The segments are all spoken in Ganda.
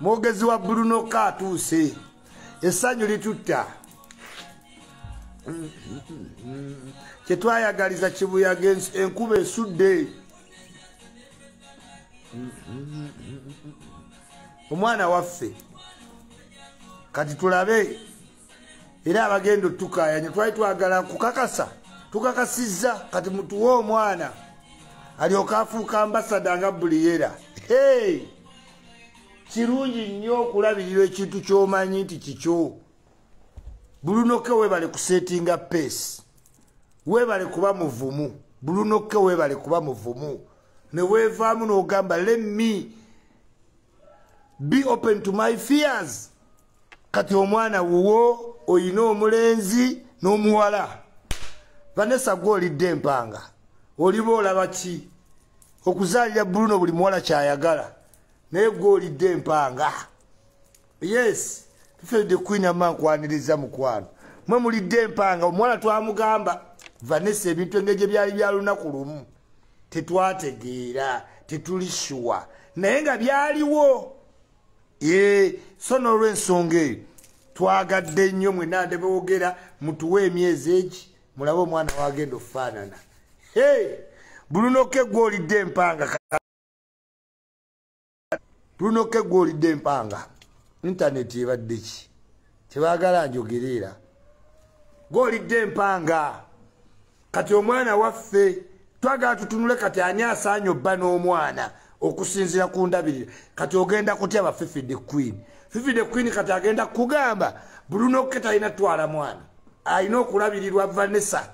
mwogezi wa bruno ka atuuse essanyu litutta kyetwayagaliza kibuyaga enkuba esudde omwana waffe kati tulabe era abagenda otukayanya twali twagala kukakasa tukakasizza kati mutuwe omwana alyoka afuuka ambasada nga buliyera hey! kirungi nnyo okulabirira ekintu kyomanyi nti kikyo bulunoke webale kusetinga peesi webale kuba muvumu bulunoke webale kuba muvumu newevaamu nogamba let me be open to my fears kati omwana wuwo oyina omulenzi n'omuwala vanessa gwe olidde empanga oliba olaba ki okuzaalira bruno buli muwala kyayagala naye gwe olidde empanga yes tuferedde queen ama nkwaniriza mukwano mwe mulidde empanga omuwala twamugamba vanessa ebintu engeri gye byali bya lunaku lumu tetwategeera tetuli shuwa naye nga byaliwo yee so n'olwensonga eyo twagadde nnyo mwe nande boogera mutuwe emyezi egi mulabe omwana wagenda okufaanana hey! bulunoke gwolidde empanga bulunoke gwolidde empanga intaneti ebadde ki tebagala njogereera gwolidde empanga kati omwana waffe twagala tutunule kati ani asaanye obba n'omwana okusinzira ku ndabirira kati ogenda kutya ba fifi the queen fifi the queen kati agenda kugamba bruno ke talina twala mwana alina okulabirirwa vanessa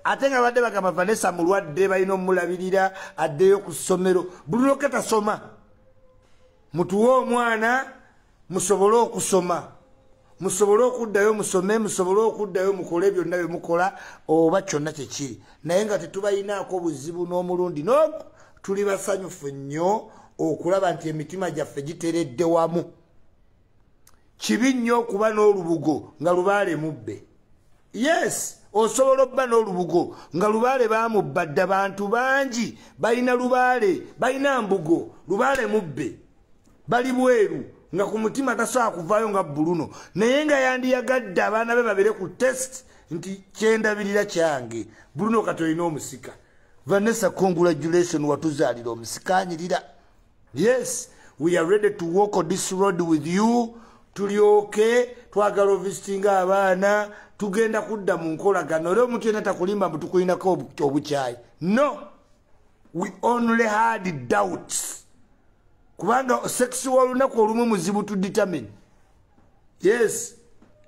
ate nga badde bagamba vanessa mulwadde balina omulabirira addeyo ku ssomero bruno ke tasoma mutuwe omwana musobole okusoma musobole okuddayo musome musobole okuddayo mukole byonna bye mukola oba kyonna kyekiri naye nga tetubalinaako buzibu n'omulundi nogu tuli basanyufu nnyo okulaba nti emitima gyaffe giteredde wamu kibi nnyo okuba n'olubugo nga lubaale mubbe yes osobola okuba n'olubugo nga lubaale bamubba dda bantu bangi balina lubaale balina mbugo lubaale mubbe bali bweru nga ku mutima tasobola kuvaayo nga buluno naye nga yandiyagadde abaana be babere ku test nti kyendabirira kyange buluno kati olina omusika vanessa congratulation watuzaalira omusikanyirira yes we are ready to walk on this road with you tulyoke twagala ovisitinga abaana tugenda kudda mu nkolagana era omuntu yena takulimba mbu tukulinako obukyayi no we only had doubts kubanga sex wolunaku olumu muzibu to determine yes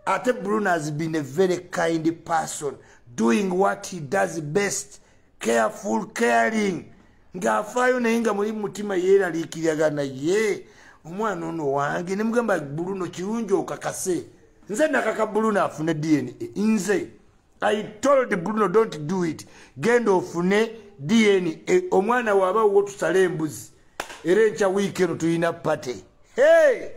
ate bruno has been a very kind person doing what he does best careful caring ng'afaayo naye nga muli mutima yeeraliikiryaga naye omwana ono wange nemugamba bruno kirungi okakase nze nakaka bruno afune dna nze i told bruno don't do it genda ofune dna e, omwana waba wo tusala embuzi era enkya wiiki eno tulina pate hey!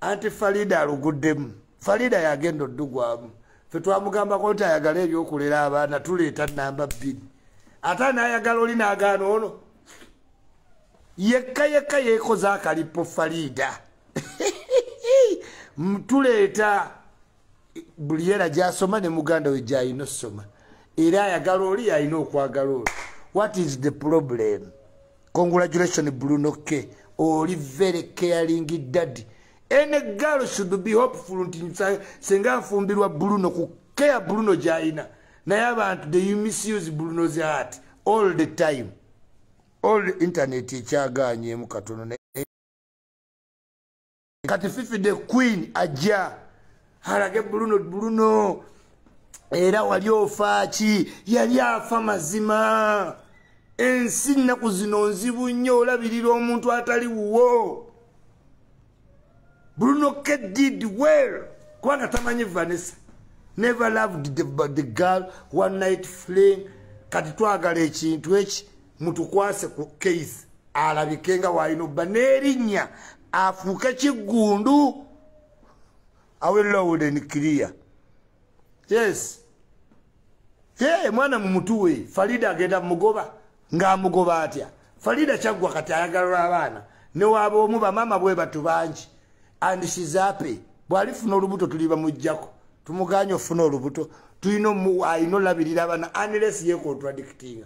anti farida aluguddemu farida yagenda oddugwamu fe twamugambako nti ayagala ebyokulera abaana tuleeta namba bbiri ate nayagala oli nagaana ono yekka yekka yekoze akalippo farida tuleeta buli era gyasoma ne muganda we gyalina okusoma era ayagala oli yalina okwagala oli what is the problem congratulation bruno k oli very caring daddy any girl should be hopeful nti senga afumbirwa bruno ku care bruno gyalina naye abantu they misuse bruno's heart all the time all internet ekyaganyemu katono kati fifi the queen ajja alage buluno buluno era wali ofaaki yali afa mazima ensi nnaku zino nzibu nnyo olabirira omuntu atali wuwo buluno ke did well kubanga tamanyi vanessa never loved the, the girl one night fling kati twagala ekintu eki mutukwase ku case alabike nga walina obba n'erinnya afuuke kiggundu awe loud and clear yes ye mwana mumutuwe farida agenda mugoba ng'amugoba atya farida kyaggwa kati ayagalwa abaana newaaba omu bamaama bwe batu bangi and shizape bw'alifuna olubuto tuli bamuggyako tumuganye ofuna olubuto tulina alina olabirira abaana anless yekontradictinga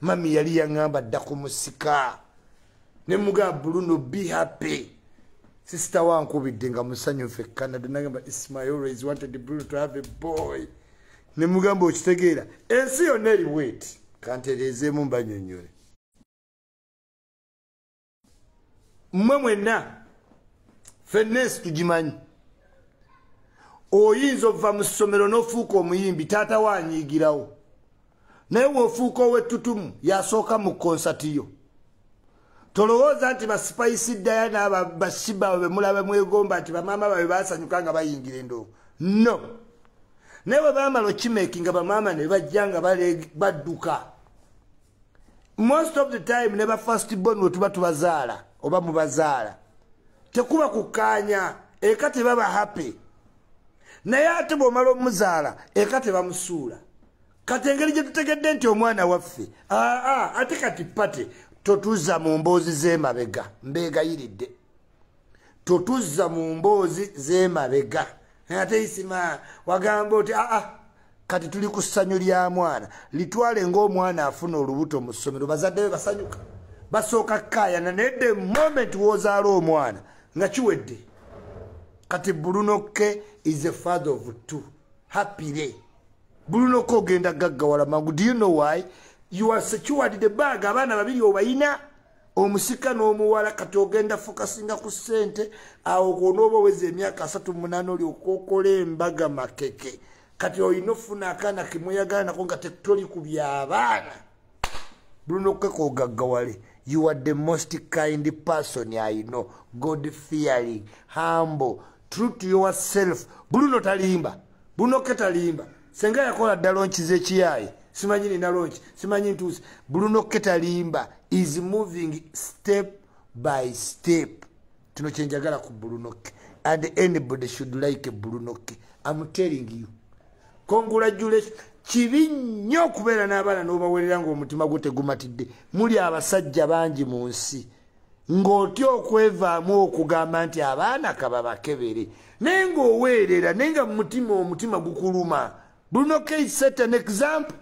mami yali yaŋamba dda ku musika ne mugamba buluno be happy sisita wankubidde nga musanyufu e canada nagamba ismail always wanted bruno to have a boy ne mugamba okitegeera ensi yonna eri weti kantereezeemu mbanyonnyole mmwe mwenna fenna ensi tugimanyi oyinza ova mu ssomero n'ofuuka omuyimbi taata wo anyiigirawo naye wofuuka owettutumu yasooka mu konsati yo tolowooza nti basipayisi ddaya naaba basiba babe mulaba mwegomba nti bamaama babe basanyuka nga bayingira endoo no naye bwe bamala okimeeki nga bamaama ne bajja nga badduka most of the time ne ba first born we tuba tubazaala oba mubazaala tekuba kukkaanya eka tebaba happy naye ate bw'omala omuzaala eka tebamusuula kati engeri gye tutegedde nti omwana waffe aa ate kati pate totuuza mu mboozi z'emabega mbeegayiridde totuzza mu mboozi z'emabega naye ate isima wagamba oti aa ah, ah, kati tuli ku ssanyu lya mwana litwale ng'omwana afuna olubuto mu ssomero bazadde be basanyuka basooka kukayana naye the moment wozaala omwana nga kiwedde kati bulunokke is a father of two happyre bulunokke ogenda gaggawala mangu do you know why you are secured the bag abaana babiri obayina omusika n'omuwala kati ogenda fokasinga ku ssente awo gwonooba oweza emyaka asatu munaana oli okokola embaga makeke kati olina okufuna akaana kemweyagala nako nga tetoli ku byabaana bulina okukeka ogaggawale you are the most kind person i know god fearing humble true to yourself buluno talimba bunoke talimba senga yakola dda lonki zekiyaye simanyi nina lonki simanyi ntuuse bruno ketalimba is moving step by step kino kyenjagala ku bulunoke and anybody should like bulunoke am telling you congratulation kibi nnyo okubeera n'abaana n'obawerera ng'omutima gwo tegumatidde muli abasajja bangi mu nsi ng'otya okwevaamu okugamba nti abaana kababakebere naye ng'oweerera naye nga mumutima omutima gukuluma bruno k set an example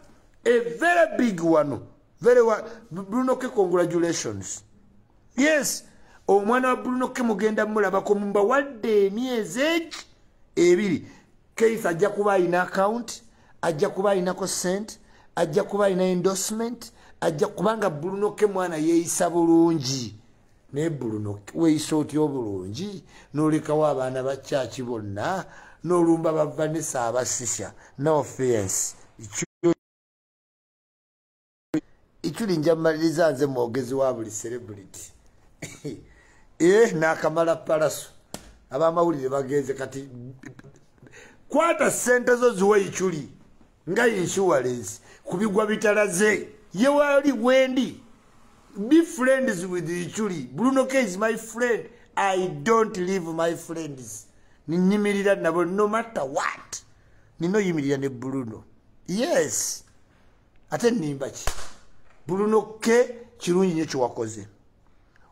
a very big one very one bruno k congratulations yes omwana wa bruno k mugenda mulabako mubawadde emyezi eki ebiri keith ajja kuba alina account ajja kuba alinako sent ajja kuba alina endorsement ajja kubanga bulunoke mwana yeeyisa bulungi naye bulunoke weeyisa otya obulungi n'olekawo abaana ba kyaki bonna n'olumba bavanisa abasisya no offense iculi njamaliriza nze mwogezi wa buli celebrity eh nakamala palaso abamawulire bagenze kati kwata sente zo ziwa iculi nga insurance kubigwa bitalaze ye wali wendi be friends with iculi bruno k is my friend i don't leave my friends ninyimirira nabo no matter what ninoyimirira ne bruno yes ate nimba ki bulunokke kirungi nyo kyewakoze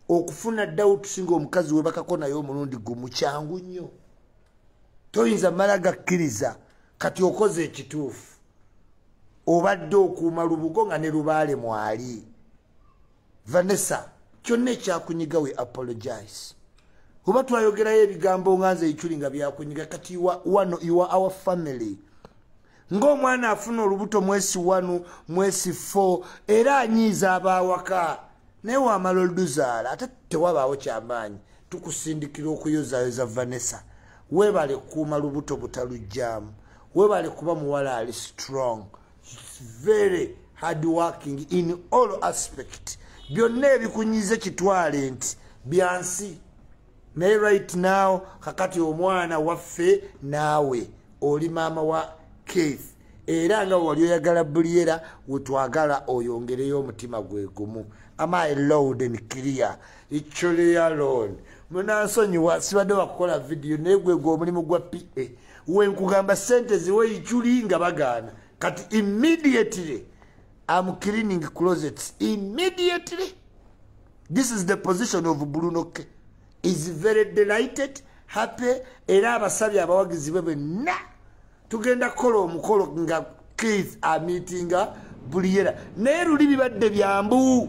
okufuna dawut singa omukazi webakako naye omulundi gumu kyangu nnyo toyinza mala gakkiriza kati okoze ekituufu obadde okuuma lubugo nga ne lubaale mwali vanessa kyonna ekyakunyiga we apologize oba twayogerayo ebigambo nga nze ekyuli nga byakunyiga kati wano iwa our family ng'omwana afuna olubuto mwesi wanu mwesi fo era anyiiza abaawaka naye wamala oluduzaala ate tewabaawo kyamaanyi tukusindikira okuyozayoza vanessa webale kuuma lubuto butalujjaamu webale kuba muwala ali strong very hard working in all aspect byonna ebikunyize kitwale nti byansi naye right now kakati omwana waffe naawe oli maama wa keith era nga wali oyagala buliyera wetwagala oyongereyo omutima gwe gumu amai loud and clear icholealon munansonyiwa sibadde wakukola vidiyo naye gwegwe omulimu gwa pa wenkugamba sente ziwe ichuli nga bagaana kati immediately am cleaning closets immediately this is the position of brunoke is very delighted happy era abasabye abawagizi be benna tugenda kukola omukolo nga keith amitinga buli yera naye luli bibadde byambu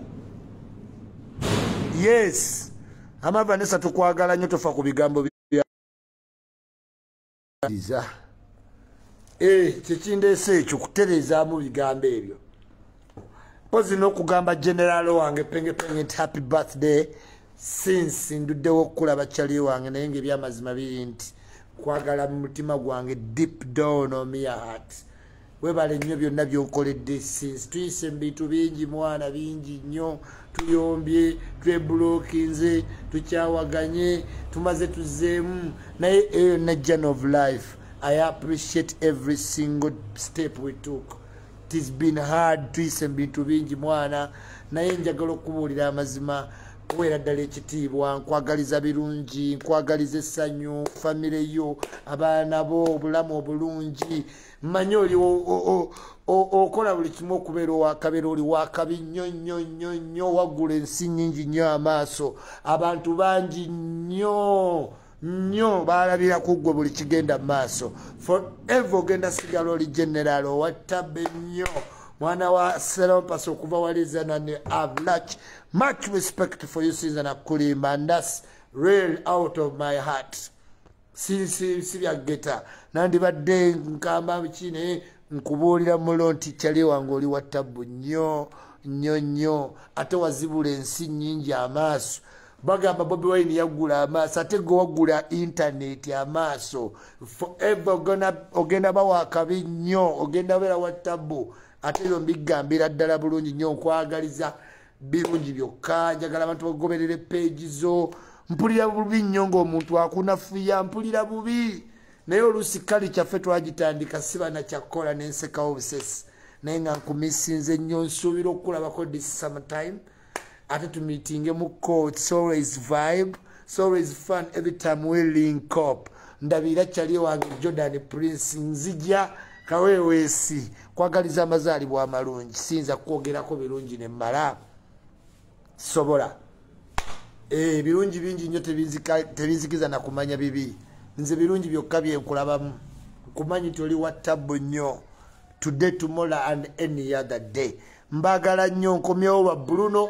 yes amavanesa tukwagala nyo tofa ku bigambo iza e eh, kyekindeesa ekyo kutereezaamu bigambo ebyo mpozi n'okugamba generaalo wange pengepenge nti happy birthday since nduddewo okukulaba kyali wange naye nga ebyamazima biri nti kwagala mu mutima gwange deep down omiya heart webale nnyo byonna byokoledde since tuyise mubintu bingi mwana bingi nnyo tuyombye twebulokinze tukyawaganye tumaze tuzeemu naye eyo yonna journ of life i appreciate every single step we took tis been hard tuyise mubintu bingi mwana naye njagala okubuulira amazima kuweera ddala ekitiibwa nkwagaliza birungi nkwagaliza essanyu famire yo abaana bo obulamu obulungi manya oli okola buli kimu okubeera owakabeera oli wakabi nnyo nnyo nnyo nnyo waggula ensi nyingi nnyo amaaso abantu bangi nnyo nnyo baalabira ku ggwe buli kigenda mu maaso forever ogenda sigala oli generaal owattabe nnyo mwana wa serompasi okuva walizana ne avlach much respect for you sinza nakulimba ndas real out of my heart sibyaggeta nandibadde nkamba ki naye nkubuulira mulo nti kyali wange oli wa tabbu nnyo nnyo nnyo ate wazibula ensi nnyingi amaaso bagamba bobi wine yaggula amaaso ate gwe waggula intaneti amaaso forever ogenda bawa akabi nnyo ogenda beera wa tabbu ate ebyo mbigambira ddala bulungi nnyo nkwagaliza birungi byokka njagala abantu bagoberere peegi zo mpulira bubi nnyo ngaomuntu akunafuya mpulira bubi naye oluusi kali kyaffe twagitandika sibana kyakkola nensekawo obusesi naye nga nkumisinze nnyo nsuubira okukulabako this sometime ate tumitinge mu court always vibe It's always fun every time we link up. Ndabira chali wange Jordan Prince nzija kawewesi kwagaliza amazali bwa malungi sinza kwogera ko birungi ne mara sobola eh birungi bingi nyo tebizika tebizikiza na kumanya bibi nze birungi byokka bye nkulabamu kumanyi toli wa tabu nyo today tomorrow and any other day mbagala nyo nkomyewo ba Bruno